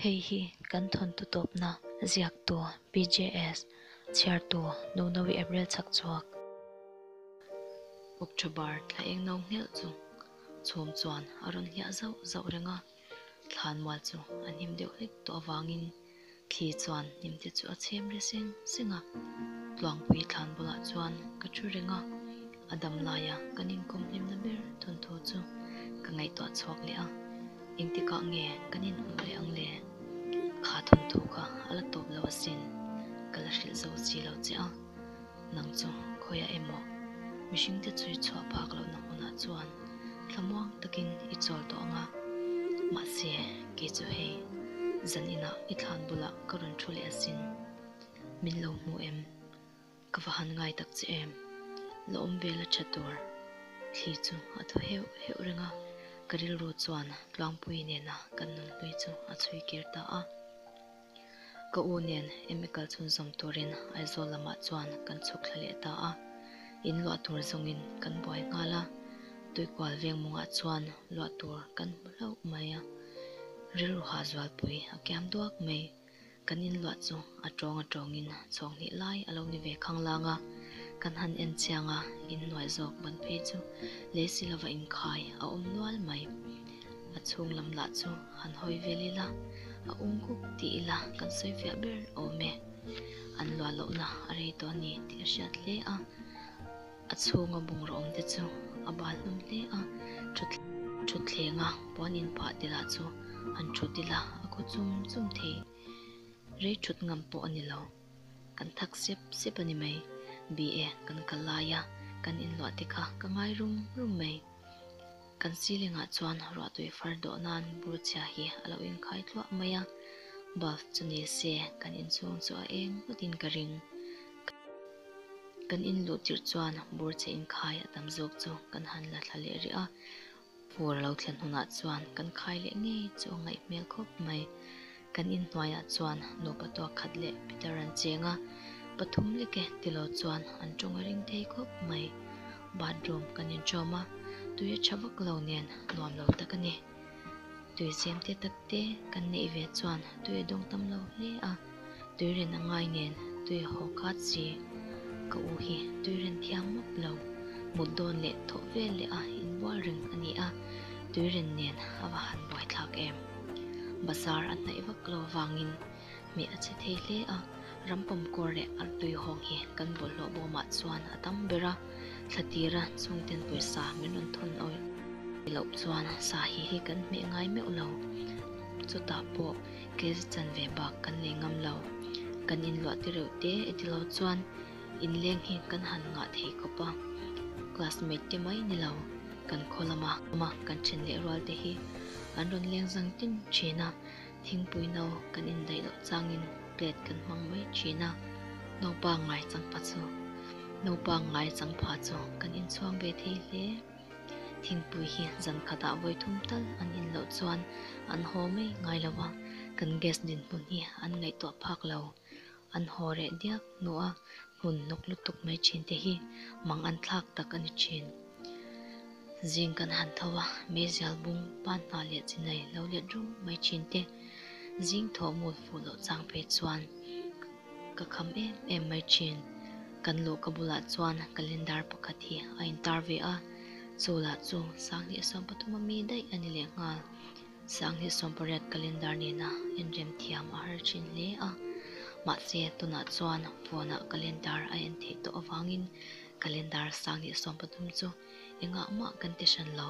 Hei hi kan thawntu tawpna ziaktu PJS chhiartu Nunawi April chakchhuak. October bar thla eng no hmelh chu chhum chuan a rawn hliah zauh zauh reng a, thlan mual chu a hnim deuh hlek tawh avangin. Thli chuan hnim te chu a chhem hre seng seng a. Tluangpui thlan bulah chuan ka thu reng a, a dam laia kan inkawm hlimna ber thun thu chu ka ngaihtuah chhuak leh a. Engtikah nge kan inhmuh leh ang le? Kha thun thu kha a la tawp lo asin, ka la hrilh zo si lo che a. Nang chu khawiah emaw? Mihringte chu i chhuah phak lohna hunah chuan thlamuang takin i chawl tawh ang a, mahse kei chu hei zan inah i thlan bulah ka rawn thu leh asin. Min lo hmu em? Ka va han ngai tak che em? La awm vel a tha tur thli chu a thaw heuh heuh reng a, ka rilru chuan Tluangpui nena kan nunhlui chu a chhui kir ta a. Ka u nen em i kal chhun zawm turin Aizawl lamah chuan kan chhuk thla leh ta a, in luah tur zawngin kan buai nghal a, Tuikual veng mawngah chuan luah tur kan hmu hlauh mai a, rilru hah zualpui a kiam duak mai, kan in luah chu a tawng a tawngin chhawk hnih lai a lo ni ve khang lang a, kan han en chiang a, in nuai zawk ban phei chu lei si lova inkhai a awm nual mai. A chhung lam lah chu han hawi vel ila, a ung kuk tih ila kan sawi fiah ber awm e. An luah lohna a rei tawh a ni tih a hriat hle a, a chhunga bungrûm te chu a bâl hlawm hle a, ṭhuthlênga puan inphah te lah chu han ṭhut ila a khaw chum chum thei. Rei ṭhut ngam pawh a ni lo, kan thak sep sep a ni mai. Bi e, kan kal laia kan inluah te kha ka ngai rum rum mai. Kan silingah chuan ruahtui far dawh nan burchhia hi a lo inkhai thluah mai a, Bulb chu ni se kan inchhung chu a eng ngawt in ka ring. Kan in luh tirh chuan burchhia inkhai a tam zawk chu kan han la thla leh rih a, phur a lo thlen hunah chuan kan khai leh ngei chu a ngaih hmel khawp mai. Kan in hnuaiah chuan nupa tuak khat leh Peter an cheng a, pathum lek e ti lo chuan an tawng a ring thei khawp mai. Bathroom kan in tawm a, tui a tha vak lo nen nuam lo tak a ni. Tui semte takte kan neih ve chuan tui a dawng tam lo hle a, tui ren a ngai nen tui a haw khat si. Ka u hi tui ren thiam mawp lo, mut dawn leh thawh vel leh a inbual reng a ni a, tui ren nen a va han buaithlak em. Bazar a hnaih vak lo vangin mi a che thei hle a, ram pawmkuar leh a tuihawng hi kan bawlhhlawh bawmah chuan a tam ber a, thla tira chhungten pawisa min rawn thawn awih ti loh chuan sahi hi kan hmeh ngai meuh lo, chutah pawh kz chanve bak kan nei ngam lo, kan inluahte reuhte e ti lo chuan. Inleng hi kan han ngah thei khawp a, classmate te mai ni lo kan khaw lam a, kan then leh rual te hi an rawn leng zang tin thin a, thingpui no kan indaih loh changin plate kan hmang mai thin a, naupa ngai changpha chu naupa ngai changpha chu kan inchhuak ve thei hle, thingpui hi zan khatah vawi thum tal an in loh chuan an haw mai ngai lo a, kan guest dinhmun hi an ngaihtuah phak lo. an haw reh diak hnu a, hun hnuk lutuk mai thin te hi mang an thlak tak a ni thin. Zing kan han tho a, Meizial bung pan hna leh chinai lo let rum mai thin te zing thaw mul fuh loh chang phei chuan ka kham em em mai thin. Kan luh ka bulah chuan calendar pakhat hi a intar ve a, chu lah chu Sanghnih a sawm pathuma mi daih a ni leh nghal. Sanghe sawmpariat calendar nena inremthiam a har thin hle a, mahse tunah chuan phone-ah calendar a en theih tawh avangin calendar sanghe sawm pathum chu engah mah kan ti hran lo.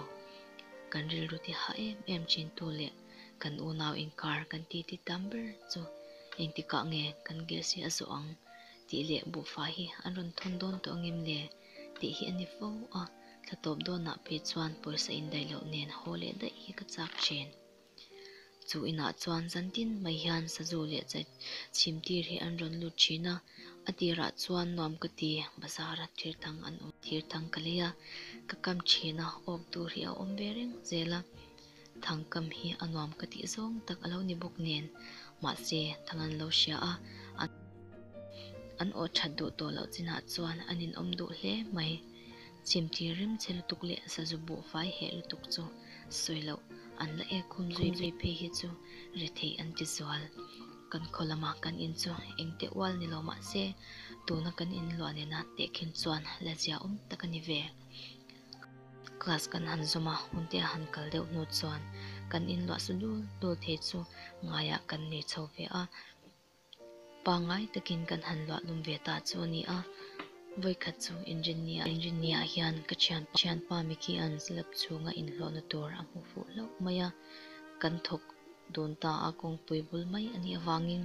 Kan rilru ti hah em em thintu leh kan unau inkar kan titi tam ber chu engtikah nge kan gilsi a zawh ang tih leh buhfai hi an rawn thawn dawn tawh angem le? tih hi a ni fo a, thla tawp dawnah pawh chuan pawisa indaih loh nen haw leh daih hi ka chak ṭhin. Chu inah chuan zantin mai hian Sazu leh Chai chhimtir hi an rawn lut ṭhin a, a tirah chuan nuam ka ti, bazara thir thang an awm thir thang ka lei a, ka kam ṭhin a, awk tur hi a awm ve reng zel a, Thangkam hi a nuam ka tih zawng tak a lo ni bawk nen, mahse thang an lo hria a, an an awh that duh tawh loh chinah chuan an inawm duh hle mai. Chim tir rim che lutuk leh sazu buh fai heh lutuk chu sawi loh, an la ek hum zui zui phei hi chu ri thei an ti zual. Kan khaw lama kan in chu engte ual ni lo mahse, tuna kan in luah nena tehkhin chuan la ziaawm tak a ni ve. Class kan han zawm a, Huntea han kal deuh hnu chuan kan inluah sa dul dul thei chu ngaiah kan nei chho ve a, pangngai takin kan han luah lum ve ta chu a ni a. Vawikhat chu Engineer a ni. Engineer hian ka thianpa Micky an zlap chhunga inhlawhna tur a hmu fuh hlauh mai a, kan thawk dun ta a, kawngpui bul mai a nih avangin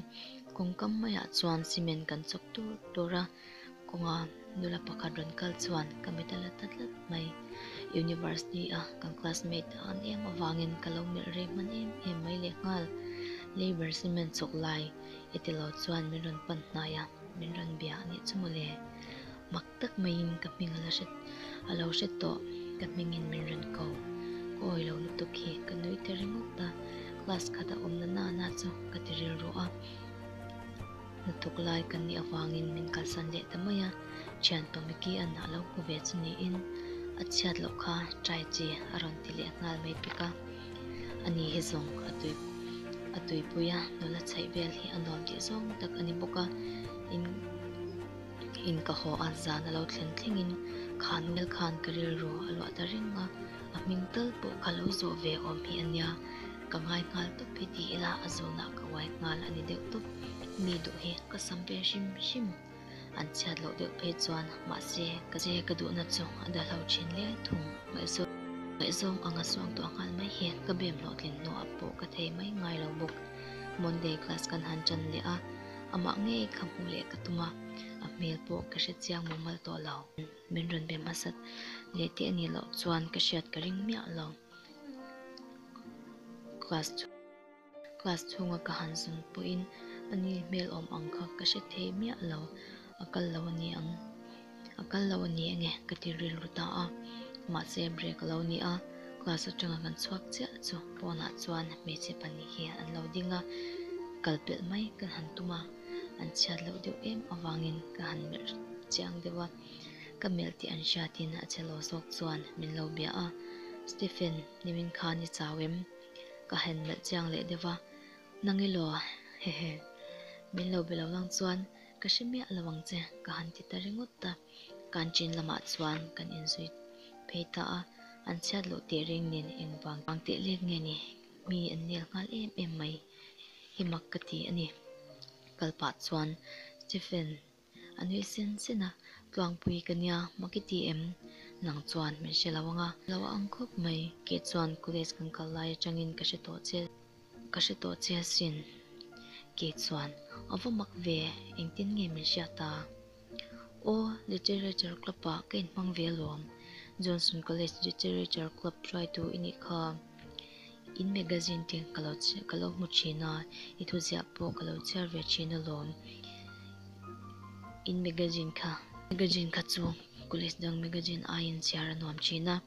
kawngkam maiah chuan cement kan chawk dur dur a. Kawnga nula pakhat rawn kal chuan ka mit a la ta tlat mai. University a kan classmate a an em avangin ka lo melh rei hman em em mai leh nghal. Labour cement chawk lai i ti lo chuan min rawn pan hnai a, min rawn bia a nih chu maw le. Mak tak maiin ka hming a la hre a lo hre tawh, ka hmingin min rawn ko. Ka awi lo lutuk hi ka nui ta ringawt a, class khat a awmna nana chu ka ti rilru a. Lutuk lai kan nih avangin min kalsan leh ta mai a, thian Tomiki an a lo hmu ve chu niin a chhiat loh kha try chi a rawn ti leh nghal mai bik a, a ni hi zawng a tui a tuipui a, nula chhaih vel hi a nuam tih zawng tak a ni bawk a, in in ka haw a, zan a lo thlen thlengin khan nge khan ka rilru a luah ta reng a, a hming tal pawh ka lo zawh ve awm hi a nia. Ka ngai nghal tawp hi ti ila a zawnah ka uai nghal a ni deuh tawp. Mi duh hi ka sam ve hrim hrim. An chhiat loh deuh phei chuan mahse ka che ka duhna chu a dahlo thin le thung. Ngaihzawng ngaihzawng anga suak duah nghal mai hi ka bem hlawhtlin hnuah pawh ka thei mai ngai lo bawk. Monday class kan han tan leh a, amah ngei kha hmuh leh ka tum a, a hmel pawh ka hre chiang mumal tawh lo. Min rawn bem a sat leh teh ni loh chuan ka hriat ka ring miah lo. Class chhung class chhunga ka han zung pawhin a ni hmel awm ang kha ka hre thei miah lo. A kal lo a ni ang. A kal lo a ni eng e ka ti rilru ta a. Mahse break a lo ni a, class atanga kan chhuak chiah chu pawnah chuan hmeichhe pahnih hi an lo ding a, kal pelh mai ka han tum a, an chhiat loh deuh em avangin ka han melh chiang deuh a. Ka melh tih an hria tiin a che lo zawk chuan min lo bia a. Stephen, nimin khan i chau em? Ka han melh chiang leh deuh a. Nang elaw, hehe. Min lo be lo lang chuan ka hre miah a lo ang che, ka han ti ta ringawt ta. Canteen lamah chuan kan inzui phei ta a, an chhiat loh teh reng nen engvang vang teh lek nge ni? Mi an nel nghal em em mai hi mak ka ti a ni. Kal pah chuan Stephen A nui sen sen a, Tluangpui ka nia, maki ti em? Nang chuan min hre lo ang a, lo a ang khawp mai. Keh chuan college kan kal lai atangin ka hre tawh che, ka hre tawh che asin. Keh chuan, A va mak ve, engtin nge min hriat a? Aw, Literature Club ah ka inhmang ve alawm, Johnson College Literature Club hruaitu i nih kha. In magazine te ka lo ka lo hmu thin a, i thuziah pawh ka lo chhiar ve thin alawm. In magazine kha. Magazine kha chu College dang magazine aiin chhiar a nuam thin a.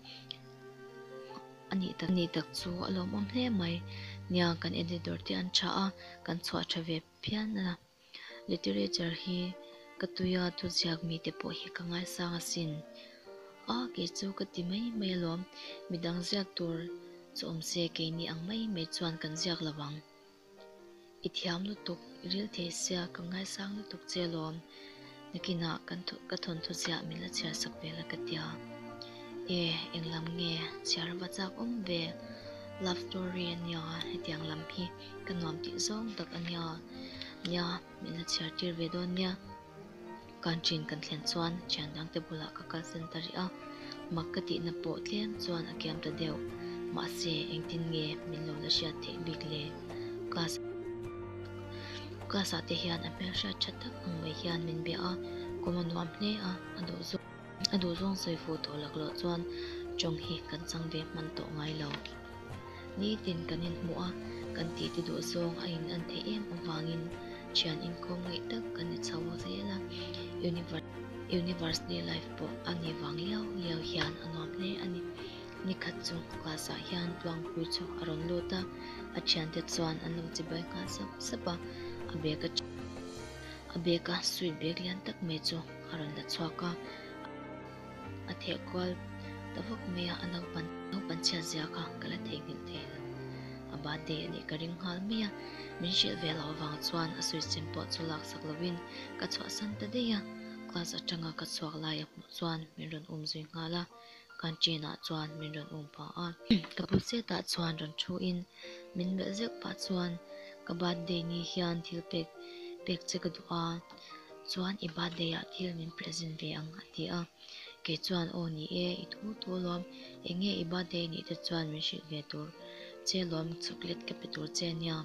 A nih tak nih tak chu a lawmawm hle mai nia kan editor te an tha a, kan chhuah tha ve phian a. Literature hi ka tui a, tuziak mi te pawh hi ka ngaisang a sin a, kei chu ka ti mai mai alawm, midang ziak tur chu awm se kei ni ang mai mai chuan kan ziak lo ang, i thiam lutuk, rilthei sia ka ngaisang lutuk che alawm. Nakinah kan thu ka thawnthu chiah min la chhiar sak ve la ka tia. E, eng lam nge? Chhiar a va chak awm ve. Love story a nia, hetiang lam hi ka nuam tih zawng tak a nia. Nia, min la chhiar tir ve dawn nia. Kan ṭin kan thlen chuan thian dangte bulah ka kal sen ta rih a. Mak ka tihna pawh tlem chuan a kiam ta deuh. Mahse, engtin nge min lo la hriat theih bik le? Class class ah te hian a hmel hriat tha tak ang mai hian min bia a, kum a nuam hle a, a duh zawk a duh zawng sawi fu tawh lak loh chuan tawng hi kan chang ve hman tawh ngai lo. Nitin kan inhmuh a, kan tih te duh zawng a in an theih em avangin thian inkawm ngaih tak kan ni chho zel a. Universe Universe Day Live pawh a ni vang liau liau hian a nuam hle a ni. Ni khat chu class ah hian Tluangpui chu a rawn lut a, a thian te chuan an lo chibai nghal sap sap a, a bag a a bag a suit bag lian tak mai chu a rawn la chhuak a, a theh kual ta vak mai a, a naupan naupan chhiat zia kha ka la theihnghilh thei lo, a birthday anih ka ring nghal mai a, min hrilh ve loh avang chuan a suicem pawh chu laksak lovin ka chhuahsan ta daih a, class atanga ka chhuak laia hmuh chuan min rawn um zui nghal a, canteen ah chuan min rawn um pah a, ka pu setah chuan rawn thu in min melh zeuh pah chuan ka birthday ni hian thil pek pek che ka duh a. Chuan i birthday ah thil min present ve ang a ti a, kei chuan aw ni e, i thu thu lawm, enge i birthday nih te chuan min hrilh ve tur che lawm, chocolate ka pe tur che nia,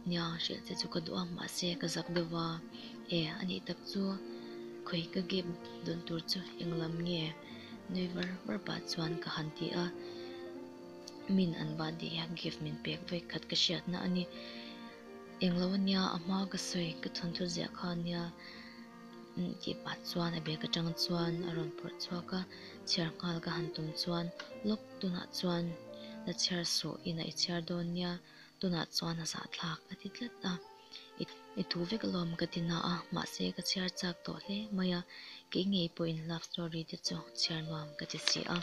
nia, hrilh che chu ka duh a, mahse ka zak deuh va, e a nih tak chu khawi ka gift dawn tur chu eng lam nge, nui var var pah chuan ka han ti a, min an birthday a gift min pek vek khat ka hriat na a ni. Englo ania a hma ka sawi ka chhawn thut ziah kha ania tih pah chuan a bag atang chuan a rawn pawrh chhuak a, chhiar nghal ka han tum chuan lawk tunah chuan la chhiar suh in a i chhiar dawn nia tunah chuan a zahthlak a ti tlat a, i tu vek alawm ka ti na a mahse ka chhiar chak tawh hle mai a, kei ngei pawhin love story te chu chhiar nuam ka ti si a.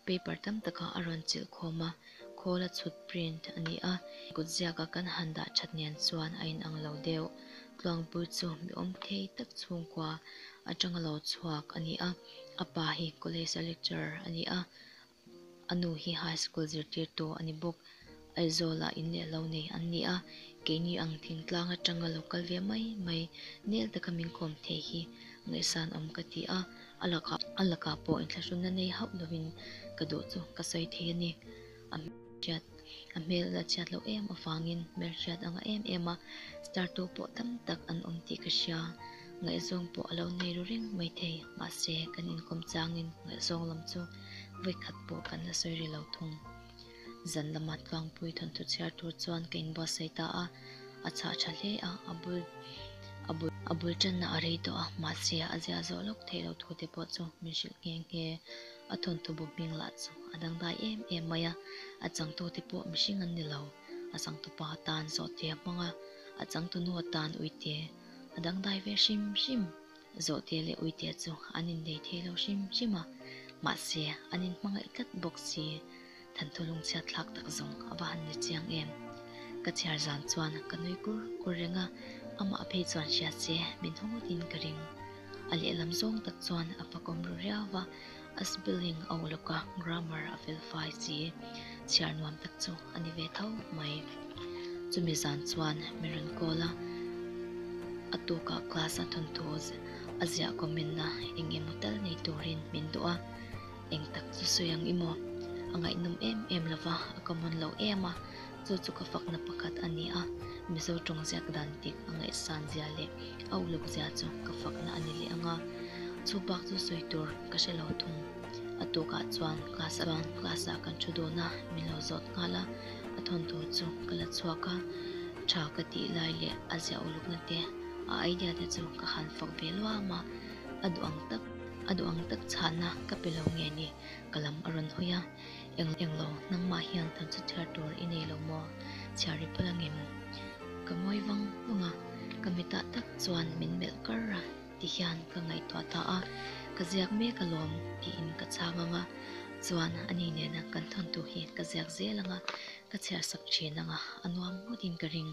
Paper tam takah a rawn chilh khawm a, khawl a chhut print a ni a, kut ziaka kan han dah thatnian chuan a inang lo deuh. Tluangpui chu mi awm thei tak chhungkua atanga lo chhuak a ni a, a pa hi college a lecturer a ni a, a nu hi high school zirtirtu a ni bawk. Aizawlah inneih lo nei an ni a, keini ang thingtlang atanga lo kal ve mai mai, nel taka min khawm thei hi ngaihsan awm ka ti a, a lakah a lakah pawh inthlahrun na nei hauh lovin ka duh chu ka sawi thei a ni. A hriat a hmel la chhiat loh em avangin hmel hriat a ngah em em a, star tu pawh tam tak an awm tih ka hria, ngaihzawng pawh a lo nei ru reng mai thei, mahse kan inkawm changin ngaihzawng lam chu vawi khat pawh kan la sawi ri lo thung. Zal lama tlangpui thawnthu chhiar tur chuan ka inbual sawi ta a, a chhah tha hle a, a bul a bul a bul tanna a rei tawh a, mahse a ziah zawh lawk theih lo thu te pawh chu min hrilh nghe nghe, a thawnthu bu hming lah chu a dangdai em em mai a, a changtu te pawh mihring an ni lo, a changtu pa tan zawhte a hmang a, a changtu nu a tan uite a dangdai ve hrim hrim. Zawhte leh Uite chu an innei thei lo hrim hrim a, mahse an inhmangaih tlat bawk si. Thanthu lung chhiatthlak tak zawng a va han ni chiang em? Ka chhiar zan chuan ka nui kur kur reng a, amah phei chuan hria se min hawngawt in ka ring. A lehlam zawng tak chuan a fakawm ru riau va, A spelling a uluk a grammar a fel fai si e chhiar nuam tak chu a ni ve tho mai chumi zan chuan min rawn call a a tukah class a thawnthu a ziah comment na eng emaw tel nei turin min duh a engtak chu sawi ang i maw a ngaihnawm em em lova a common lo em a. Chu chu ka fakna pakhat a ni a, Mizo tawng ziak dan bik a ngaihsan zia leh a uluk zia chu ka fakna a ni leh ang a. Chu bak chu sawi tur ka hre lo thung. A tukah chuan class ah chuan class ah kan thu dawn a, min lo zawt nghal a, a thawn tur chu ka la chhuak a, tha ka tih lai leh a ziah ulukna te, a idea te chu ka han fak ve luam a, a duh ang tak, a duh ang tak chhana ka pe lo nge ni ka lam a rawn hawi a. Eng eng lo, nangmah hian kan saw chhiar tur i nei lo maw? Chhiar ri pawlh angem? Ka ngawi vang vang a, ka mi tah tak chuan min melh kar a ti hian ka ngaihtuah ta a, ka ziak mek a lawm tiin ka chhang ang a, chuan ani nena kan thawntu hi ka ziak zel anga ka chhiar sak thin anga a nuam ngawtin ka ring.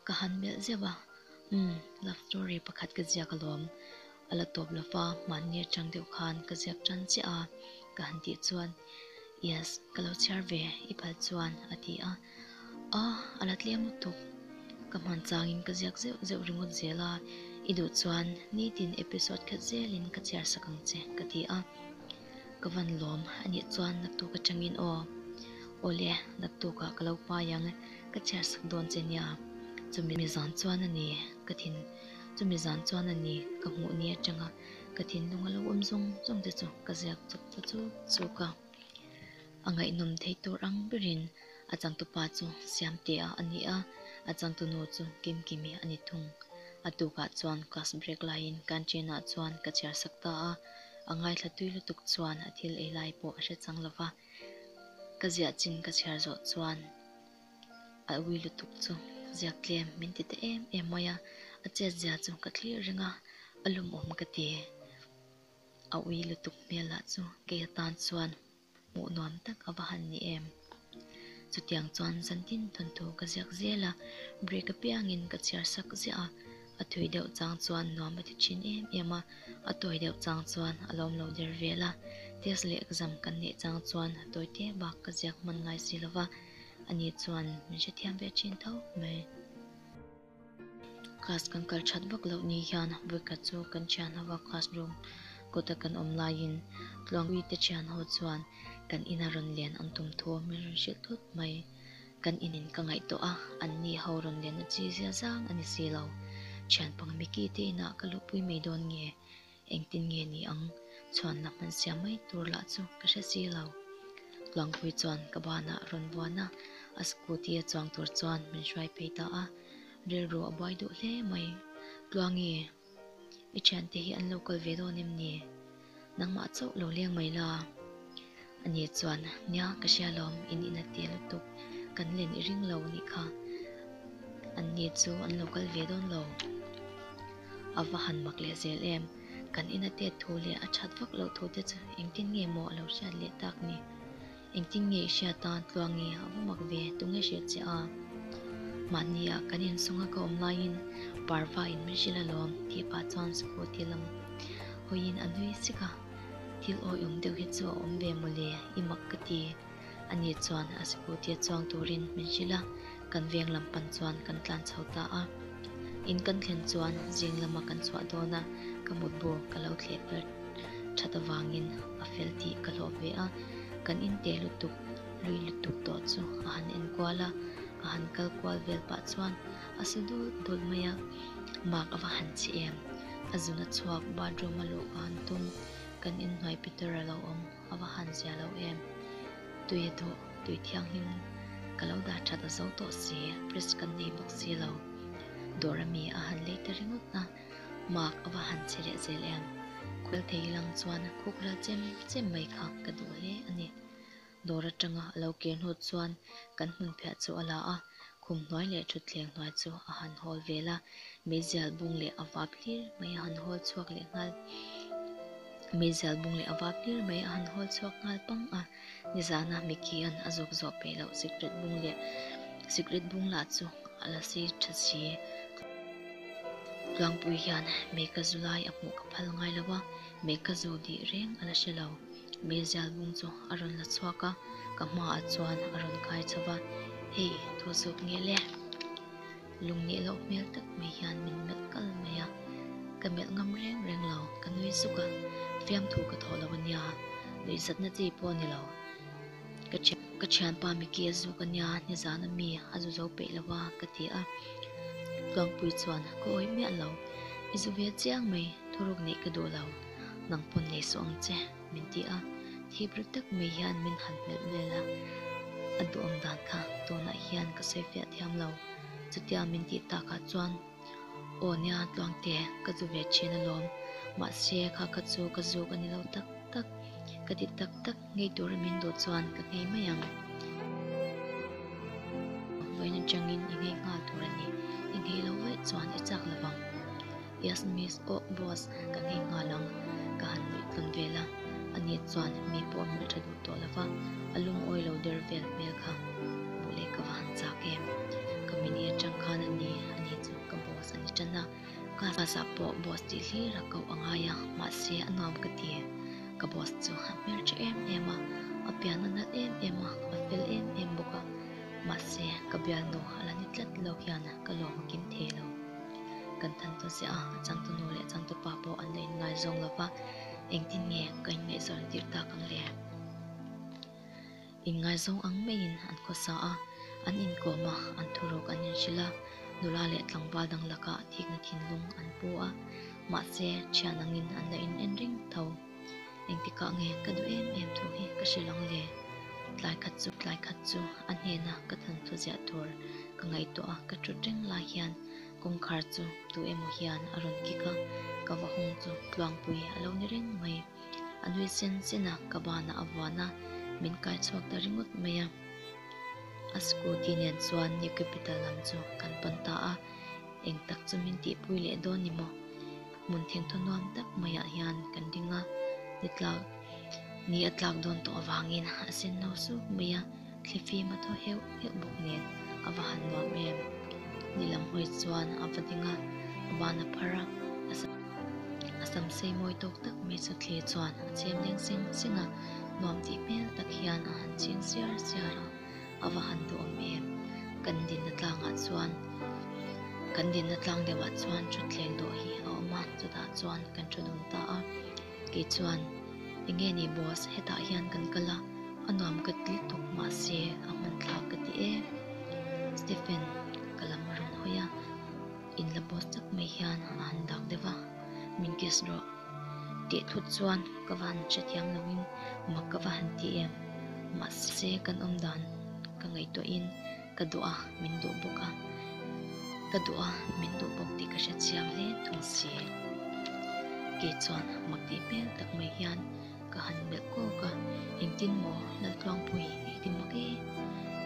Ka han melh zeuh a, umm, love story pakhat ka ziak a lawm. A la tawp lo fa, mahni atang deuh khan ka ziak tan chiah a, ka han tih chuan, Yes, ka lo chhiar ve, i phal chuan a ti a. Aw, a la tlem lutuk. Ka hman changin ka ziak zeuh zeuh ringawt zel a, i duh chuan nitin episode khat zelin ka chhiar sak ang che, ka ti a. Ka van lawm a nih chuan naktuk atangin, Aw, awle, naktukah ka lo pai ang, ka chhiar sak dawn che nia, chumi zan chuan a ni, ka thin. chumi zan chuan a ni ka hmuh ni atanga ka thinlung a lo awm zawng zawng te chu ka ziak chawp ta chuk chuk a, a ngaihnawm theih tur ang berin a changtu pa chu siam tihah a ni a, a changtu nu chu kim kim i a ni thung, a tukah chuan class break laiin canteen-ah chuan ka chhiar sak ta a, a ngaithla tui lutuk chuan a thil ei lai pawh a hre chang lova, ka ziah chin ka chhiar zawh chuan. a ui lutuk chu ziak tlem min ti ta em em mai a a chet zia chu ka thlir reng a a lum awm ka ti a ui lutuk hmel ah chu kei atan chuan hmuh nuam tak a va han ni em chutiang chuan zan tin thun thu ka ziak zel a brake a piang in ka chhiar sak ziah a a thui deuh chang chuan nuam a ti thin em em a a tawi deuh chang chuan a lawm lo der vel a test leh exam kan neih chang chuan a tawi te bak ka ziak hman ngai si lo va. a nih chuan min hre thiam ve thin tawk mai. Class kan kal that vak loh ni hian Brica chu kan thian ho a, classroom kawta kan awm laiin Tluangpui te thian ho chuan kan ina rawn len an tum thu min rawn hrilh thut mai. Kan inin ka ngaihtawh a, an ni ho rawn lenna chi zia zang a ni si lo. Thian pang Mickey te inah ka luh pui mai dawn nge? Engtin nge ni ang? Chhuanna hman siam mai tur lah chu ka hre si lo. Tlangpui chuan ka banah rawn vuan a, a scooty a chuang tur chuan min hruai phei ta a, rilru a buai duh hle mai. Tluangi, i thiante hi an lo kal ve dawn em ni? Nangmah chauh lo leng mai la. Ani chuan, Nia, ka hria lawm, in in a tia lutuk, kan len i ring lo anih kha. Anni chu an lo kal ve dawn lo. A va han mak leh zel em? Kan in a tet thu leh a that vak loh thu te chu engtin nge maw a lo hriat leh tak ni? Engtin nge i hriat a, tluangi a va mak ve tu nge hriat che a? Mahniah kan in sunga ka awm laiin parva in min hrilh alawm, tih pah chuan scooty lam huiin a nui sik a. Thil awi awm deuh hi chu a awm ve mawle, i mak ka ti. A nih chuan a scooty a chuang turin min hrilh a, kan veng lam pan chuan kan tlan chho ta a. In kan thlen chuan zing lama kan chhuah dawn a, ka mutbu ka lo thleh ber that avangin a fel tih ka hlawh ve a. Kan in te lutuk lui lutuk tawh chu a han enkual a, a han kal kual vel pah chuan A sa dawt dawt mai a, mak a va han chhi em? A zun a chhuak, bathroom a luh a han tum, kan inhnuai Peter a lo awm, a va han zia lo em? Tui a duh, tui thianghlim ka lo dah that a zo tawh si, Pris kan nei bawk si lo. Dawr a mi a han lei ta ringawt a, mak a va han chhi leh zel em? Khualthei hi lang chuan khukrel chem chem mai kha ka duh hle a ni. Dawr atanga a lo kir hnut chuan kan hmunphiah chu a la a, khum hnuai leh thutthleng hnuai chu a han hawl vel a, mizial bung leh a vap hlir mai a han hawl chhuak leh nghal mizial bung leh a vap hlir mai a han hawl chhuak nghal pang a, nizana Mickey-a'n a zawk zawh peih loh cigarette bung leh cigarette bung lah chu a la si tha si a. Tlangpui hian Meka zu lai a hmuh ka phal ngai lo a, Meka zu dih reng a la hre lo. Mizial bung chu a rawn la chhuak a, ka hma ah chuan a rawn kai chho va, Hei, thu suk nge le? Lung nih loh hmel tak mai hian min melh kal mai a, ka melh ngam reng reng lo, ka nui zuk a, fiam thu ka thawh lo a nia, nuihzatna chi pawh ni lo. Ka thian ka thianpa Micky a zuk a nia, nizan a mi a zu zo peih lo va, ka ti a. Tluangpui chuan ka awi miah lo, i zu ve chiang mai, thuruk nih ka duh lo. nang pawn nei suh ang che, min ti a, thip ri tak mai hian min han hmelh vel a, a duhawm dan kha tunah hian ka sawi fiah thiam lo, chutia min tih takah chuan aw nia Tluangte ka zu ve thin alawm, mahse kha ka chu ka zuk a ni lo tak tak, ka ti tak tak. Ngei tur a min duh chuan ka ngei mai ang. Vawiin atangin i ngei nghal tur a ni. I ngei lo vaih chuan i chak lovang. Yes miss, Ohh boss, ka ngei nghal ang. Ka han luih tlun ve la. Ani chuan mi pawh a hmulh tha duh tawh lova, a lungawi lo der vel hmel kha. Buh leh ka va han chak em? Ka mini atang khan a ni. Ani chu ka boss a ni tan a. Ka hlazah pawh boss tih hlir a koh a ngai a, mahse a nuam ka ti. Ka boss chu a hmer tha em em a, a pian a nalh em em a, a fel em em bawk a. Mahse, ka bialnu a la ni tlat lo hian ka lawm a kim thei lo. Kan than tawh ziah a, a changtu nu leh changtu pa pawh an la in ngai zawng lo va, engtin nge ka in ngaihzawrh an tirh tak ang le? Inngaizawng ang maiin an khaw sa a, an inkawm a, an thurawk an inhrilh a, nula leh tlangval dang lakah thikna thinlung an pu a, mahse thian angin an la in en reng tho. Engtikah nge ka duh em em thu hi ka hrilh ang le? Tlai khat chu tlai khat chu a hnena ka thanthu ziah tur ka ngaihtuah a, ka ṭhut reng lai hian kawngkhar chu tu emaw hian a rawn kik a, ka va hung chu tluangpui a lo ni reng mai. A nui chen chena ka banah a vuan a, min kaichhuak ta ringawt mai a. A scooty nen chuan New Capital lam chu kan pawn ta a, eng tak chu min tihpui leh dawn ni maw? Hmun thengthaw nuam tak maiah hian kan ring a, ni tlak ni a tlak dawn tawh avangin a senno suk mai a. Thli fim a thaw heuh heuh bawk nen a va han nuam em? Nilam hawi chuan a va ding a, a ban a phar a. A sam sei mawi tawk tak mai chu Thli chuan a chemleng seng seng a, nuam tih hmel tak hian a han ching siar siar a, a va han duhawm em? Kan dinna tlangah chuan, kan dinna tlang deuhah chuan thutthleng dawh hi a awm a, chutah chuan kan thu dun ta a. Kei chuan, Ti nge ni boss, hetah hian kan kal a, a nuam ka ti tuk mahse a hmanthlak ka ti e. Stephen ka lam a rawn hawi a, in la boss tak mai hian a han dak deuh a, min kiss rawh. Tih thut chuan ka va han hre thiam lovin mak ka va han ti em, mahse kan awmdan ka ngaihtuahin. Ka duh a, min duh bawk a. Ka duh a, min duh bawk tih ka hre chiang hle thung si e. Kei chuan mak tih hmel tak mai hian ka han melh kawk a, engtin maw Laltluang pawh hi i ti mak e.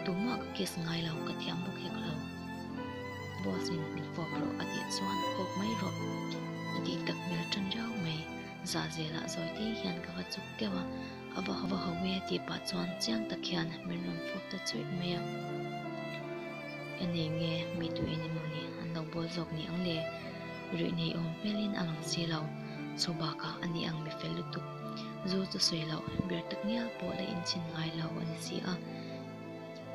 Tumah ka case ngai lo, ka thiam bawk hek lo. Boss-in min fawp rawh a tih chuan fawp mai rawh a tih tak hmel ṭan riau mai. Zahzela zawite hian ka va chuk teuh a. A va ho ho e tih pah chuan chiang tak hian min rawn fawp ta chuih mai a. E nei nge mi tu in emawni an lo bawl zawk ni ang le? Ruihnei awm hmel in a lang si lo, chhu bakah a ni ang mi fel lutuk. Zu chu sawi loh, ber tak ngial pawh la in chhin ngai lo a ni si a.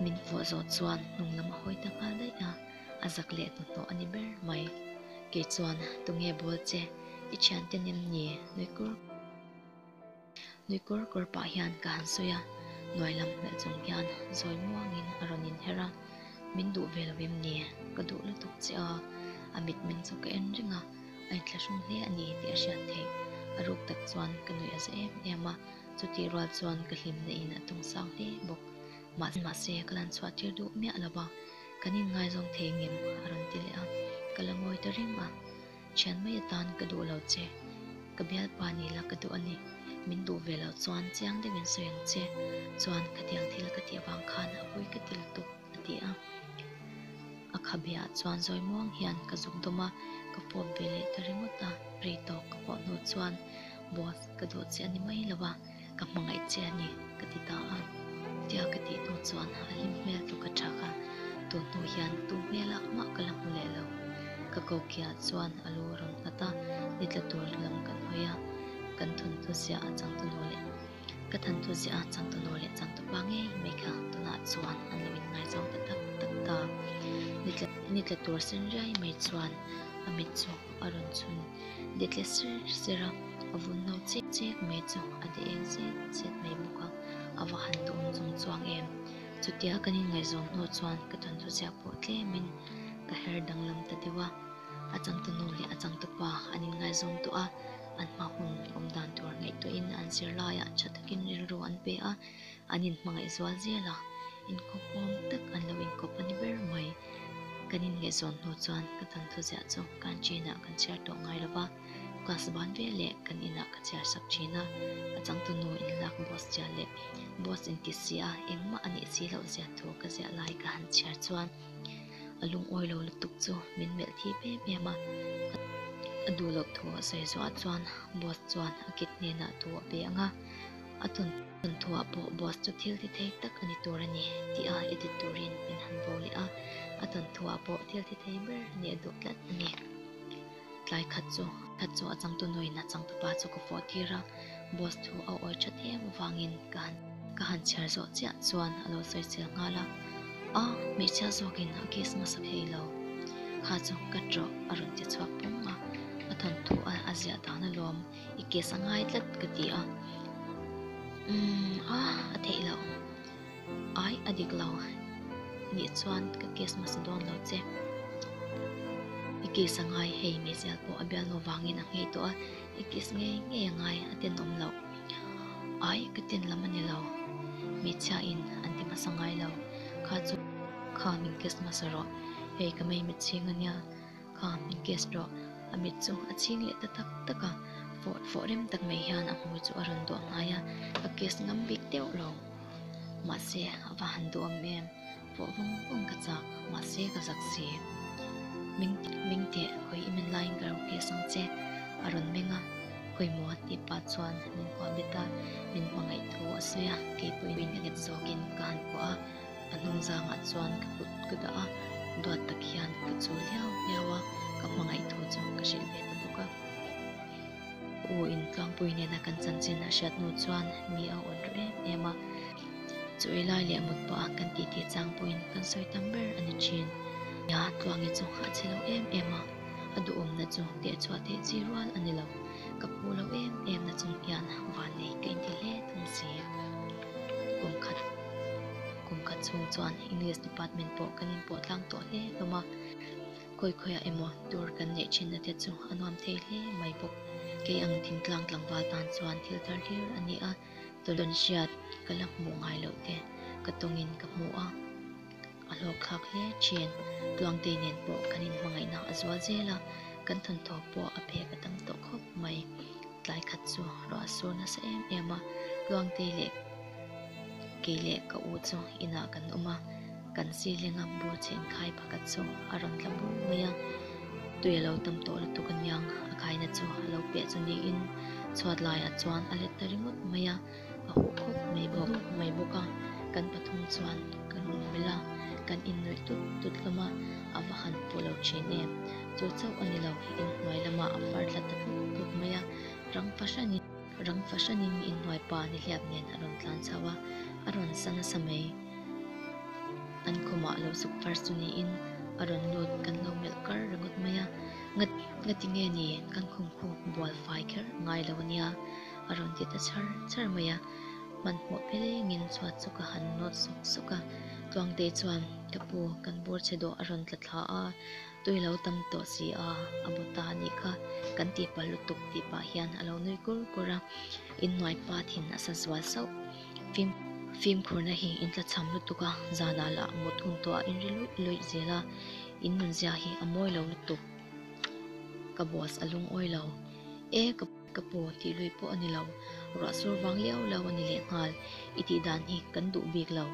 Min fuah zawh chuan hnung lam a hawi ta nghal daih a, a zak leh hnathawh a ni ber mai. Kei chuan, Tunge bawl che, i thiante nem ni? Nuikur. Nui kawr kawr pah hian ka han sawi a, hnuai lam hmel chung hian zawi muangin a rawn inher a, min duh ve lo em ni? Ka duh lutuk che a, a mitmeng chu ka en reng a, a inthlahrung hle a ni tih a hriat theih. A ruk tak chuan ka nuih a za em em a, chutih rual chuan ka hlim na in a tung sang hle bawk. Mahse mahse ka lan chhuah tir duh miah lo va, kan inngaizawng thei ngem a rawn ti leh a, ka la ngawi ta reng a. Thian mai atan ka duh lo che, ka bialpa nih la ka duh a ni. Min duh ve lo chuan chiang deuhin sawi ang che. Chuan khatiang thil ka tih vang khan a pawi ka ti lutuk, a ti a. A khabia ah chuan zawimuang hian ka zuk dawm a, ka pawp ve leh ta ringawt a, ri tawk ka pawh hnu chuan boss ka duh che a ni mai lo a. Ka hmangaih che a ni, ka ti ta a. Tia ka tih hnu chuan a hlim hmel tuk a chak a, tun hnu hian tum hmel a hmah ka la hmu leh lo. Ka kokia chuan a lu a rawn nghat a, ni tla tur lam kan hawi a, kan thawnthu ziah a changtunu leh ka thanthu ziah a changtunu leh changtu pa ngei mai kha tunah chuan an lo in ngaizawng ta tak tak ta. Ni tla tur sen riai mai chuan a mitchuk a rawn chhun. de tle ser ser a, a vun no chek chek mai chu a de eng zet zet mai bawk a, a va han dawm chung chuang em? Chutia kan inngaihzawm hnawh chuan ka ṭantu ziah pawh tlemin ka her danglam ta deuh a, a changtunu leh a changtupa an inngaihzawm tawh a, an hma hun awm dan tur ngaihtuahin an zir laiah ṭha takin rilru an pe a, An in hmangaihzual zel a, inkawp awm tak an lo inkawp a ni ber mai. Kan in ngaihzawn hnu chuan ka tan thuziah chu canteen ah kan chhiar tawh ngai lo va, class ban vel leh kan in ah ka chhiar sak thin a. A changtu nu in lak boss chiah leh boss in ti si a, engmah a nih si loh ziah thu ka ziah lai ka han chhiar chuan a lungawi lo lutuk chu min melh thip em em a. A duhloh thu a sawi zuah a chuan boss chuan a kit hnenah thu a pe ang a. A chawntawng thuah pawh boss chu thil thi thei tak a ni tur a ni tih a edit turin min han bo leh a. A chawntawng thuah pawh thil thi thei ber a ni a duh tlat a ni. Tlai khat chu khat chu a changtu nuin a changtu pa chu ka fawh tir a, boss thu a awi tha thiam avangin ka han ka han chhiar zawh chiah chuan a lo sawi chel nghal a, a hmeichhia zawkin a kiss hmasa phei lo kha chu cut rawh a rawn ti chhuak pawng a, a thawnthu a ziah dan alawm. i kes a ngai tlat ka ti a, umm ah a theih lo ai a dik lo nih chuan ka kes masa dawn lo che, i kes a ngai hei Michelle pawh a bialnu vangin a nghei tawh a, i kes ngei ngei a ngai a ten awm lo ai ka ten lam a ni lo hmeichhia in an ti hmasa ngai lo kha chu kha min kes hmasa rawh hei ka mei mitchhing a nia. Kha min guest rawh. A mit chu a ching leh ta tak tak a, fawh fawh rem tak mai hian a hmui chu a rawn duah ngai a, ka guest ngam bik deuh lo. Mahse a va han duam em? Fawh vawng vawng ka chak, mahse ka zak si. Meng meng teh, hawi i men laiin ka ro guest ang che. A rawn meng a, pawimawh a tih pah chuan min kuah bet a, min hmangaih thu a sawi a, kei pawhin a let zawkin ka han kuah a. A hnung zangah chuan ka kut ka dah a, duat tak hian ka chu hliau hliau a, ka hmangaih thu chu ka hrilh ve ta bawk a. U Intluangpui nena kan chanchin a hriat hnu chuan mi a awn rawh em em a, chu i lai leh mut pawha kan tih ti chang pawhin kan sawi tam ber a ni thin. Nia Tluangi chu a chhi lo em em a, a duhawmna chu teh chhuah theih chi rual a ni lo, ka pu lo em em na chung hian van nei ka inti hle thung si. kum khat kum khat chhung chuan english department pawh kan in pawh tlang tawh hle hlawm a khawi khawi ah emaw tur kan neih thin na te chu a nuam thei hle mai bawk kei ang thing tlang tlangval tan chuan thil thar hlir a ni a tawlh dawn hriat ka la hmuh ngai loh te ka tawng in ka hmu a. A hlawkthlak hle ṭhin. Tluangtei nen pawh kan inhmangaihna a zual zel a, kan thawnthaw pawh a phek a tam tawh khawp mai. Tlai khat chu ruah sur nasa em em a, Tluangtei leh kei leh ka u chu inah kan awm a, kan silenga bu chen khai pakhat chu a rawn tla bur mai a. Tui a lo tam tawh lutuk aniang, a khaina chu a lo piah chu niin chhuat laiah chuan a let ta ringawt mai a. A huh khawp mai bawk mai bawk a, kan pathum chuan ka lung melh a, kan innawih tut tut lam a, a va han pawh lo thin em? Chu chauh a ni lo, inhnuai lamah a far tlat ta tlup tlup mai a, rang fahran in, rang fahran in inhnuai pa nihliap nen a rawn tlan chauh a, a rawn sa nasa mai, an khawmah lo suk far chu niin a rawn lut kan lo melh kar ringawt mai a, nga nga ti nge ni, kan khawnkhuh bual fai kher ngai lo a nia. A rawn ti ta char char mai a, hmanhmawh pelengin chhuat chu ka han nawt sawk sawk a. Tluangtei chuan, Ka pu, kan bur che dawh a rawn tla thla a, tui lo tam tawh si a, a bu ta a nih kha, kan tih pah lutuk tih pah hian a lo nui kur kur a, innuai pat in a sa zual sauh. Fim fimkhurna hi in tla cham lutuk a, zanah lah mut hun tawh a in ri luih luih zel a, in nunzia hi a mawi lo lutuk. Ka boss a lungawi lo. E ka. Ka pu tih lui pawh a ni lo. Ruahsur vang liau lo a ni leh nghal. I tih dan hi kan duh bik lo.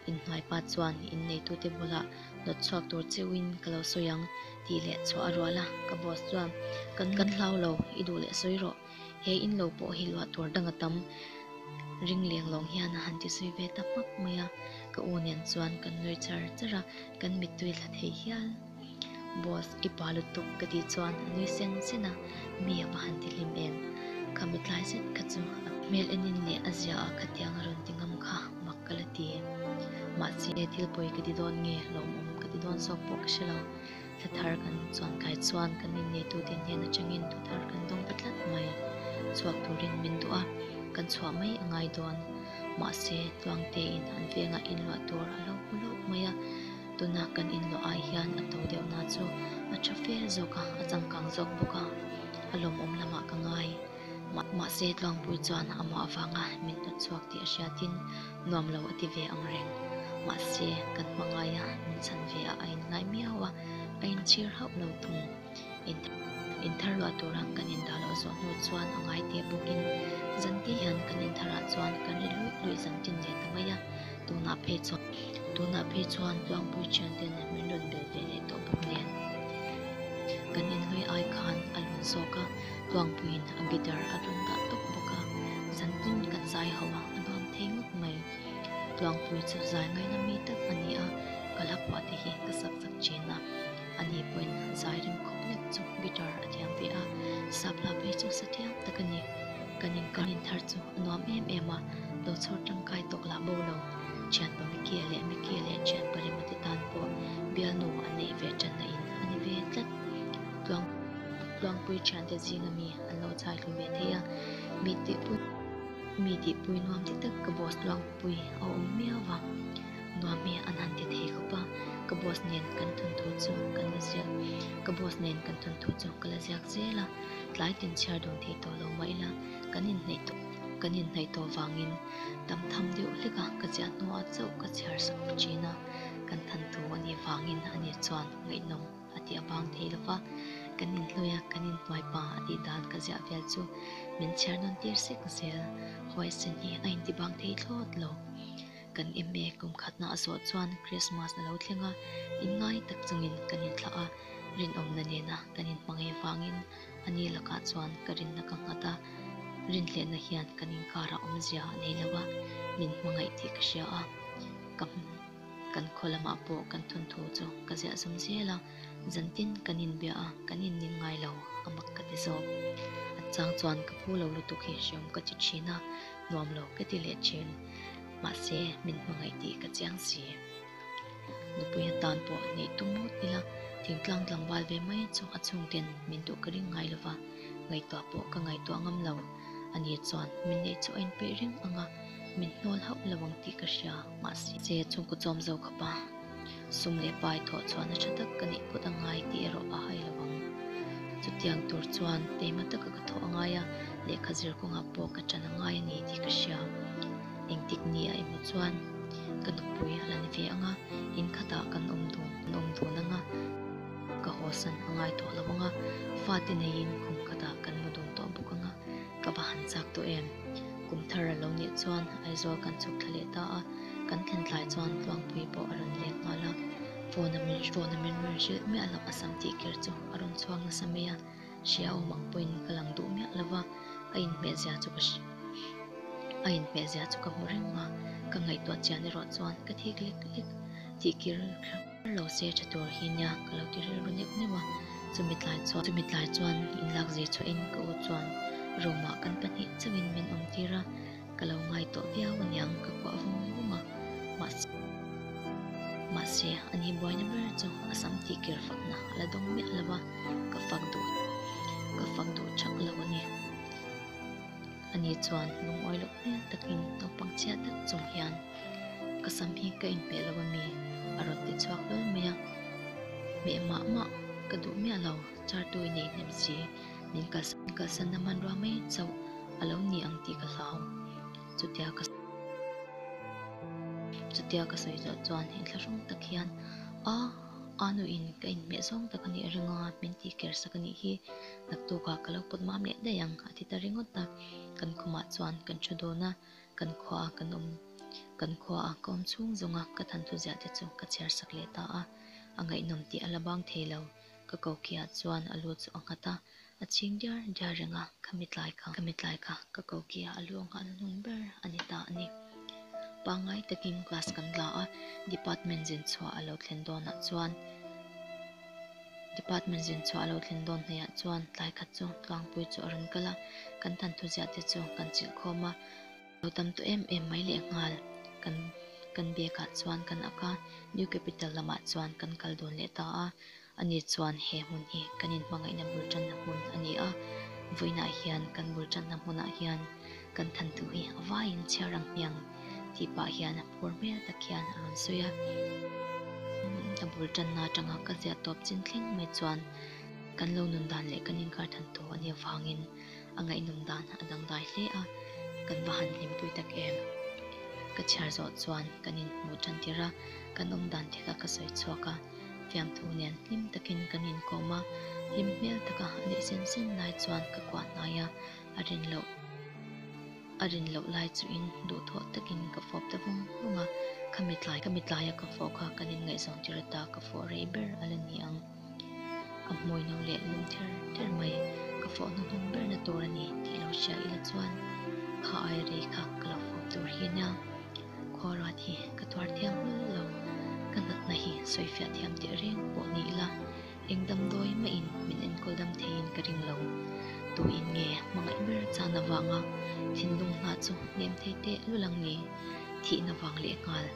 Innghai pa chuan in neitute bulah nawt chhuak tur cheuhin ka lo sawi ang tih leh chhuah a rual a. Ka boss chuan, Kan kan hlau lo, i duh leh sawi rawh. He in lo pawh hi luah tur dang a tam. Ring Lianglawng hian a han ti sawi ve ta hmak mai a. Ka u nen chuan kan nuih char char a, kan mittui thla thei hial. Boss, i pa lutuk ka tih chuan a nui sen sen a, mi apa han ti hlim em? Kha mi tlai zet kha chu a. Hmel enin leh a zia ah kha tiang a rawn ti ngam kha mak ka la ti. Mahse, thil pawi ka ti dawn nge lawm awm ka ti dawn zawk pawh ka hre lo. Thla thar kan chuan kai chuan kan inneitu te hnen atangin thu thar kan dawng ta tlat mai. Chhuak turin min duh a, kan chhuah mai a ngai dawn. Mahse, Tluangte in han vengah inluah tur a lo hmu lawk mai a. Tunah kan inloh ah hian a to deuh na chu a tha fel zawk a, a changkang zawk bawk a, a lawmawm lamah ka ngai. Mah mahse Tluangpui chuan a mawh avang a min hnawt chhuak tih a hriat in nuam lo a ti ve ang reng. Mahse kan hmangaia min chhan ve ah a in ngai miau a, a in chhir hauh lo thung. Intharluah tur ah kan indah loh zawh hnu chuan a ngai teh bawk in zanti hian kan inthar ah chuan kan ri luih luih zan tin leh ta mai a, tunah phei chuan. Tunah phei chuan Tlawngpui thiante nen min rawn bel ve leh tawh bawk nen kan inhlui ai khan a lun zawk a, Tlawngpui in a guitar a tlun dah tawk bawk a, zan tin kan zai ho a, a nuam thei ngawt mai. Tlawngpui chu zai ngaina mi tak a ni a, ka la phuah te hi ka sak sak thin a. Ani pawhin zai rem khawp nek chu guitar a thiam ve a, Sapla phei chu sa thiam tak a ni. Kan inkar inthar chu a nuam em em a, lo chhawr tangkai tawk lah bo lo. Thianpa Mikie leh Mikie leh thianpa Rema te tan pawh bialnu an neih ve tan na in a ni ve tlat. Tluang Tluangpui thiante zinga mi an lo chai tlu ve thei a, mi tihpui mi tihpui nuam tak tak ka boss Tluangpui a awm miau va. Nuammi an han ti thei khawp a, ka boss nen kan thawnthu chu kan la ziak, ka boss nen kan thawnthu chu ka la ziak zel a, tlai tin chhiar dun thei tawh lo mah ila kan inhnaih tawh kan inhnaih tawh vangin tam tham deuh hlek a, ka ziah hnuah chauh ka chhiar sakawr thin a, kan thanthu a nih vangin a ni chuan ngaihnawm a ti a bang thei lova, kan inhlui a kan inhnuai pa a tih dan ka ziah vel chu min chhiar dawn tir sek zel, hawisenhi a inti bang thei thlawt lo. Kan eme kumkhatna a zawh chuan Krismas a lo thleng a, in ngai tak chungin kan inthlah a, rinawmna nena kan inhmangei vangin a ni lakah chuan ka rinna ka nghat a, rinhlenna hian kan inkarah awmzia a nei lo a, min hmangaih tih ka hria a, ka hmu kan khaw lamah pawh kan thawnthu chu ka ziah zum zel a, zantin kan inbia a, kan inning ngai lo a mak ka ti zawk. Chang chuan ka pu lo lutuk hi hreawm ka ti thin a, nuam lo ka ti leh thin. mahse min hmangaih tih ka chiang si. Nupuia tan pawh nei tum mut ila, thingtlang tlangval ve mai chu a chhungten min duh ka ring ngai lova, ngaihtuah pawh ka ngaihtuah ngam lo, a nih chuan min neih chu a inpeih reng anga, min hnawl hauh lo ang tih ka hria mahse. Che chhungkaw chawm zo khawpa. sum leh pai thawh chhuahna tha tak ka neih phawt a ngai tih erawh a hai lovang. Chutiang tur chuan keima taka ka thawh a ngai a, lehkha zir kawngah pawh ka tan a ngai a ni tih ka hria. Engtik ni a emaw chuan ka nupui a la ni ve anga, in khatah kan awm dawn an awm dawn anga ka haw san a ngai tawh lovang a, fate neiin kum khatah kan mu dawn tawh bawk anga ka va han chak tawh em. Kum thar a lo nih chuan Aizawl kan chhuk thla leh ta a, kan thlen tlai chuan Tluangpui pawh a rawn lek nghal a. Phone a min phone a min rawn hrilh miah lo a sam tih ker chu a rawn chhuak nasa mai a, hria awmah pawhin ka lang duh miah lova, a inhmehzia chu ka a inhmehzia chu ka hmu reng a, ka ngaihtuah chian erawh chuan ka thik lek lek tih kir. Ka lo seh tha tur hi nia, ka lo ti rilru neuh neuh a, chumi tlai chuan, chumi tlai chuan in lak zir chhuah in ka u chuan room ah kan pahnih chauh in min awm tir a, ka lo ngai tawh viau a niang, ka kuah vum vum a, mahse, mahse an i buaina ber chu a sam tih kir fakna a la dawng miah lo a, ka fak duh, ka fak duh chak lo a ni. Ani chuan lungawih loh hmel tak in naupang chhiat tak chung hian. Ka sam hi ka inpeh lo ami? A rawn ti chhuak vel mai a. Meh mah mah, ka duh miah lo, chartu i neihnem si, min kalsan kalsan na man rua mai chauh, a lo ni ang tih ka hlau. Chutia ka chutia ka sawi zawh chuan in thlahrawng tak hian, A, a nu in ka inmeh zawng tak a nih a ring a, min tih ker sak a nih hi, naktuk ah ka lo pawt mam leh daih ang, a ti ta ringawt a, kan khumah chuan kan thu dawn a. kan khua ah kan awm kan khua ah ka awm chhung zawng a ka thantlu ziah te chu ka chhiar sak leh ta a, a ngaihnawm tih a la bang thei lo, ka ko khi ah chuan a lu chu a nghat a, a ching diar diar reng a, ka mi tlai ka ka mi tlai ka. Ka ko khi ah a lu a nghat a hnung ber a ni ta a ni. Pangngai takin class kan la a, department zin chhuah a lo thlen dawn ah chuan. Department zin chhuah a lo thlin dawn hneiah chuan tlai khat chu Tlangpui chu a rawn kal a, kan tan thuziah te chu kan chilh khawm a, lo tam tawh em em mai leh nghal kan kan biakah chuan kan ak a, New Capital lamah chuan kan kal dawn leh ta a, ani chuan he hmun hi kan in hmangaihna bul tanna hmun a ni a, vawiinah hian kan bul tanna hmunah hian. Kan than duh hi a vaiin chhiar ang hmiang tih pah hian a phur hmel tak hian a rawn sawi a. A bul tanna atanga ka ziah tawp chin thleng mai chuan kan lo nun dan leh kan inkar than tur a ni avangin a ngaihnawm dan a dangdai hle a. Kan va han hlimpui tak em? Ka chhiar zawh chuan kan inhmuh tan tir a, kan awm dan te kha ka sawi chhuak a. Fiamthu nen hlim takin kan inkawm a, hlim hmel taka a nih sen sen lai chuan ka kuah hnai a. a rin loh a rin loh lai chu in duh thawh tak in ka fawp ta vung vung a kha mi tlai kha mi tlai a ka fawh kha kan in ngaihzawng tir a ta ka fawh rei ber a la ni ang ka hmui no leh lum ther ther mai ka fawh na hmang ber na tur a ni tih lo hria ila chuan kha ai rei kha ka lo fawp tur hi nia khaw ruat hi ka tuar thiam hlul lo ka natna hi sawi fiah thiam teh reng pawh ni ila. Eng damdawi mahin min enkawl dam theiin ka ring lo. Tuin nge hmangaih ber chan avanga thinlung hna chu nem thei teh lul ang ni? Thihna vang leh nghal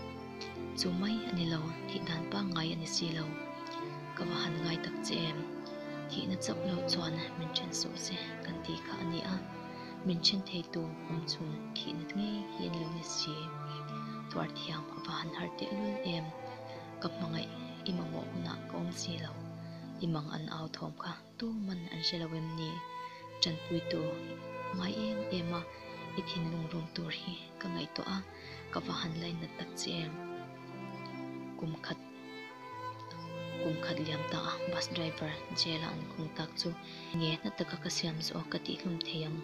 chu mai a ni lo, thih dan pangngai a ni si lo. Ka va han ngai tak che em? Thihna chauh lo chuan min then suh se kan ti kha a ni a, min then thei tu awm chung thihna ngei hi a ni lo nisi? Tuar thiam a va han harh teh lul em? Ka hmangaih i mamawh hunah ka awm si lo, i mang an au thawm kha tuman an hre lo em ni? Tanpuitu, Ngai em em a, i thinlung rum tur hi ka ngaih tawh a, ka va han lainat tak che em? Kum khat kum khat liam ta a bus driver jail-a an khung tak chu nge hna taka ka siam zawh ka tihhlum thei ang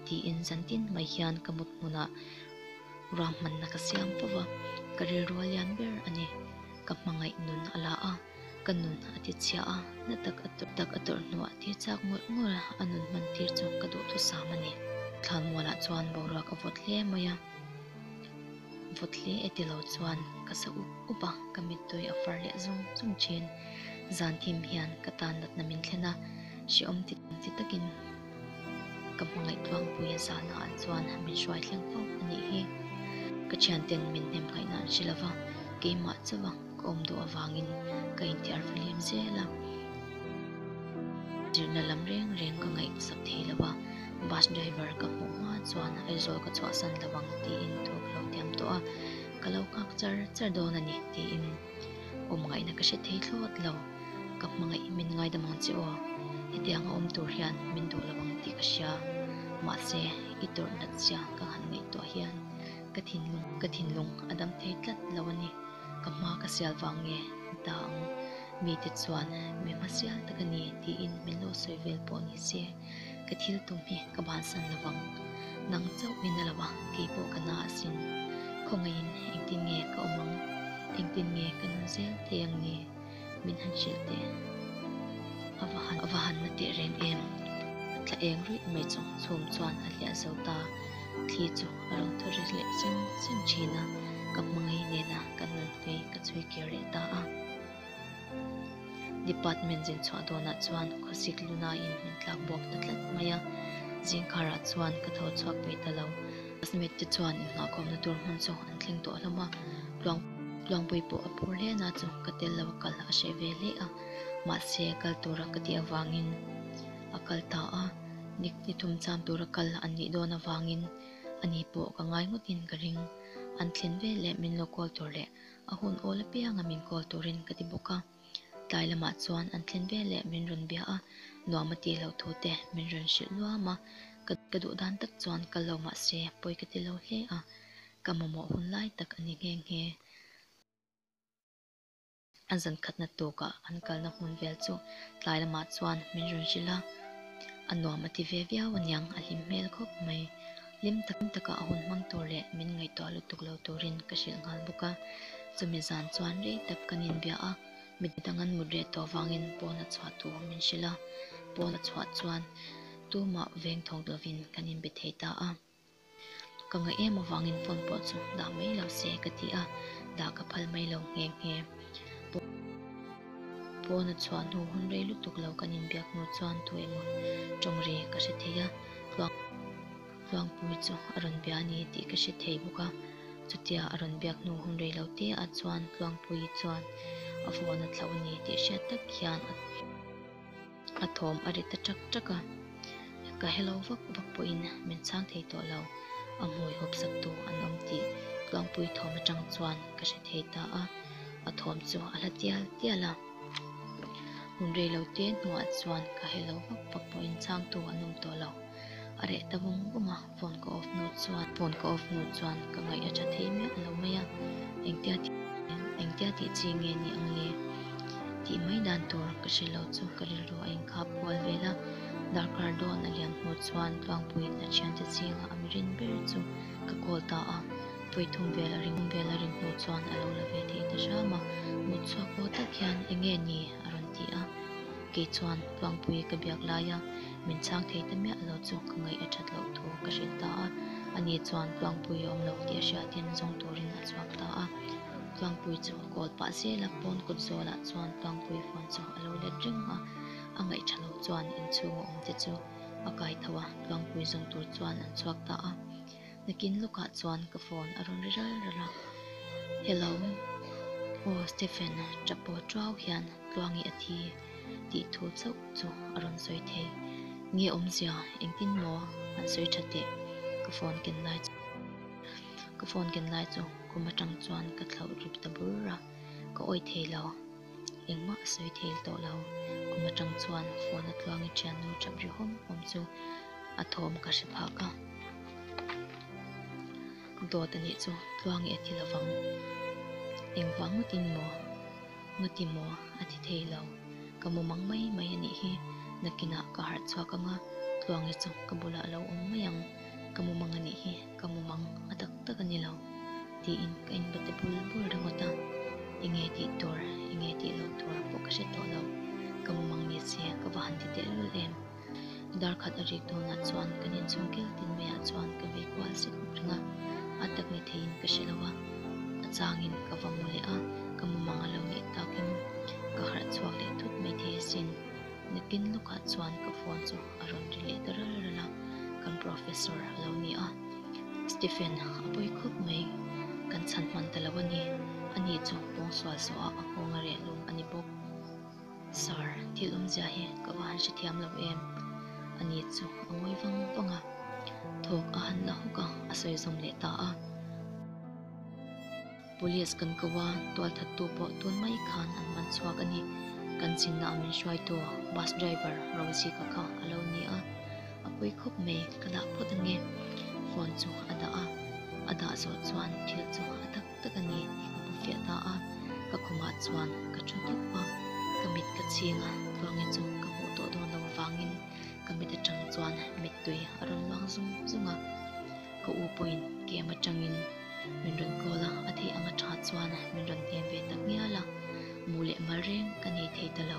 tiin zantin mai hian ka mut hmunah Ruah hmanna ka siam fo va, ka rilrual lian ber a ni. Ka hmangaih nun a la a, ka nun a tichhia a, na tak a tawrh tak a tawrh hnuah tir chak ngawlh ngawlh a nun hman tir chu ka duh thusam a ni. Thlanmualah chuan boruak a vawt hle mai a, vawt hle e tilo chuan ka sa up up a, ka mittawi a far leh zawng zawng thin. Zan thim hian ka tan natna min thlen a, hreawm ti ti takin. Ka hmangaih tluangpui a zah naah chuan min hruai thleng fo a nih hi. Ka thianten min hnemngaihna an hrilh ava, keimah chauh a ka awm duh avangin ka inthiar fahlim zel a. Zirna lam reng reng ka ngaih sap thei lo a, bus driver ka hmuh hma chuan Aizawl ka chhuahsan lo ang tiin thu ka lo tiam tawh a, ka lo nghak char char dawn a ni tiin. awm ngaihna ka hre thei thlawt lo, ka hmangaih min ngaidam ang che aw, hetianga awm tur hian min duh lo ang tih ka hria, mahse i tawrhnat zia ka nghan ngaihtuah hian ka thinlung ka thinlung a dam thei tlat lo a ni, ka hma ka sial vang nge ta ang, mite chuan mi hmasial tak a ni tiin min lo sawi vel pawh ni se. Ka thil tum hi ka bansan lo vang. Nang chauh min a lo a, kei pawh ka na a sin. Khawngaihin engtin nge ka awm ang? Engtin nge ka nun zel thei ang ni? Min han hrilh teh. A va han, a va han na teh reng em? A tla eng ruih mai chu. Chhum chuan a hliah zo ta. Thli chu a rawn thaw rilh leh sem sem thin a. Ka hmangaih nena ka nun hnui ka chhui kir reh ta a. Department zinchhuah dawnah chuan khawsik lunain min tlak bawk ta tlat mai a, zingkarah chuan ka tho chhuak ve ta lo. Classmate te chuan inngahkawmna tur hmun chu an thleng tawh hlawm a, Tluang Tluangpui pawh a phur hle na chu ka tel lo a kal a hreh ve hle a, mahse kal tura ka tih avangin a kal ta a, ni ni thum cham tura kal an nih dawn avangin ani pawh ka ngai ngawtin ka ring an thlen veleh min lo call tur leh. A hun awl apianga min call turin ka ti bawk a, tlai lamah chuan an thlen vel leh min rawn bia a, nuam a tih loh thu te min rawn hrilh nuam a, ka ka duh dan tak chuan kal lo mah se pawi ka ti lo hle a, ka mamawh hun lai tak a ni nghe nghe a, zan khatna tukah an kalna hmun vel chu tlai lamah chuan min rawn hrilh a, a nuam a ti ve viau aniang a hlim hmel khawp mai. Hlim tak tak a hun hmang tur leh min ngaihtuah lutuk lo turin ka hrilh nghal bawk a, chumi zan chuan rei tak kan inbia a, midang dang an mut reh tawh vangin pawn a chhuah tur min hrilh a, pawn a chhuah chuan tumah veng thawk lovin kan inbe thei ta a, ka ngaih em avangin phone pawh chu dah mai lo se ka ti a, dah ka phal mai lo nghe nghe. Pawn a chhuah hnu hun rei lutuk lo kan inbiak hnu chuan thu emaw tawng ri ka hre thei a. Tluangpui chu a rawn bia a ni tih ka hre thei bawk a, chutia a rawn biak hnu hun reilo teah chuan Tluangpui chuan a phone a thlauh a ni tih hriat tak hian a thawm a ri ta ṭak ṭak a, ka hello vak vak pawhin min chhang thei tawh lo, a hmui hawp sak tu an awm tih Tluangpui thawm aṭang chuan ka hre thei ta a, a thawm chu a hla tial tial a. hun rei lo te hnuah chuan ka helo vak vak pawh inchangtu an awm tawh lo a reh ta bawm bawm a phone ka off hnu chuan phone ka off hnu chuan ka ngaih a tha thei miah a lo mai a engtia tih engtia tih chi nge ni ang le tih mai dan tur ka hre lo chu ka rilru a inkhap kual vel a darkar dawn a liam hnu chuan tlangpuiin a thiante zinga a mirin ber chu ka call ta a. Puitum vel a ring vel a rin hnu chuan a lo la ve thei ta hram a, mut chhuak pawh tak hian eng nge ni a rawn ti a, kei chuan Puangpui ka biak lai a, min chhang thei ta miah lo chu ka ngaih a that loh thu ka hrilh ta a, a ni chuan Puangpui a awm lo tih a hriat hian a zawng turin a chhuak ta a, Puangpui chu a call pah zel a, pawn kut zawlah chuan Puangpui phone chu a lo let reng a, a ngaih tha loh chuan inchhung a awm te chu a kai tho a, Puangpui zawng tur chuan an chhuak ta a. Nakin lawkah chuan ka phone a rawn ri ral ral a. Hello, aw Stephen a ṭap pawh ṭuau hian Tluangi a thi tih thu chauh chu a rawn sawi thei. Nge awmzia engtin maw an sawi ṭha teh? Ka phone ken lai chu ka phone ken lai chu khum aṭang chuan ka thlauh rip ta bur a, ka awih thei lo. engmah a sawi thei tawh lo. Kum atang chuan phone a tluang i thian nu chap ri hawm hawm chu a thawm ka hre phah ka. Dawt a nih chu tluang i a ti lovang. Engvang ngawtin maw? Ngawti maw? A ti thei lo. Ka mawm ang mai mai anih hi nakinah ka harh chhuak anga tluangi chu ka bulah a lo awm mai ang. Ka mawm ang anih hi. Ka mum ang a tak tak a ni lo, tiin ka inbate bul bul ringawt a. I nge tih tur, i nge tih lo tur pawh ka hre tawh lo. Ka mum ang nia che, ka va han ti teh lul em. Darkhat a rik dawnah chuan kan inchung kiltin maiah chuan ka vei kual si khawp ring a. A tak ni theiin ka hre lo a, a changin ka va mu leh a, ka mum ang a lo nih takin ka harh chhuak leh thut mai thei asin. Ni pin lawkah chuan ka phone chu a rawn ri leh ta ral ral a, kan professor a lo ni a, Stephen a pawi khawp mai, kan chhan hman ta lo a ni, a ni chu pawng sual sual a a nghawng a reh lum a ni bawk, Sir thil awmzia hi ka va han hre thiam lo em? a ni chu a ngawi vang vang a, thawk a han la hawk a, a sawi zawm leh ta a. Police kan ko a, tualthattu pawh tun mai khan an man chhuak a ni. Kan chinna ah min hruaitu bus driver Rozika kha a lo ni a, a pui khawp mai, ka dah phawt a nge. Phone chu a dah a, a dah zawh chuan thil chu a tak tak a ni tih ka hmu fiah ta a, ka khumah chuan ka thu dup a, ka mit ka ching a, Tuange chu ka hmuh tawh dawn lo vangin ka mit atang chuan mittui a rawn luang zung zung a, ka u pawhin kem atangin. Min rawn call a, a theih anga tha chuan min rawn em ve tak ngial a, mu leh mal reng ka nei thei ta lo.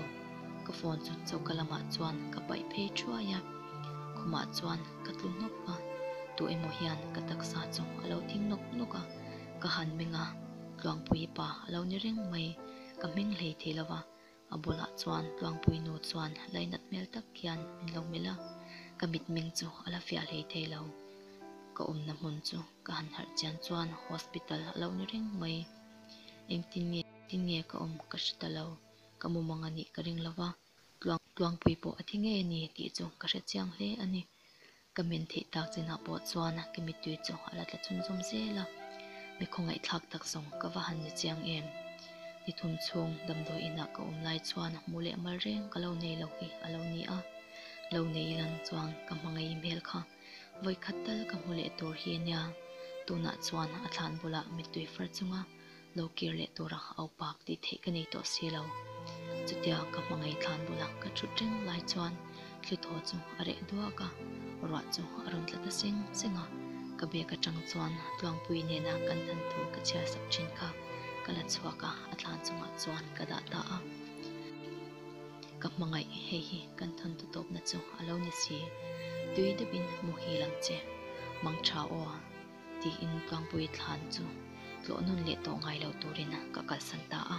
Ka phone chu choka lamah chuan ka paih phei thuai a, khumah chuan ka tlu hnawk a, tu emaw hian ka taksa chu a lo thing nawk nawk a, ka han meng a, Tluangpuipa a lo ni reng mai, ka hmeng hlei thei lo va. A bulah chuan Tluangpui nu chuan lainat hmel tak khian min lo melh a, ka mitmeng chu a la fiah hlei thei lo. Ka awmna hmun chu ka han harh chian chuan hospital a lo ni reng mai. Engtin nge tin nge ka awm ka hre ta lo, ka mumang a nih ka ring lo va, Tluangpui pawh a thi ngei a ni tih chu ka hre chiang hle a ni. Ka min theih tak chinah pawh chuan ka mittui chu a la tla chum chum zel a, mi khawngaihthlak tak zawng ka va han ni chiang em? Ni thum chhung damdawi inah ka awm lai chuan mu leh mal reng ka lo nei lo hi a lo ni a, lo nei ilang chuan ka hmangaih im hel kha, vawikhat tal ka hmu leh tur hi a nia, tunah chuan a thlan bulah mittui far chunga. lo kir leh tura a upak tih theih ka nei tawh si lo. Chutia ka hmangaih tlan bula ka ṭhut reng lai chuan thli thaw chu a reh duak a, ruah chu a rawn tla ta seng seng a. Ka bag aṭang chuan Tluangpui nena kan han thu ka chhiar sak ṭhin kha. Ka la chhuak a, a tlan chungah chuan ka dah ta a. Ka hmangaih hei hi kan thawnthu tawpna chu a lo ni si. Tui deuhin muhil ang che. Mangṭha aw. tiin Tlangpui thlan chu tlawhnawn leh tawh ngai lo turin ka kalsan ta a.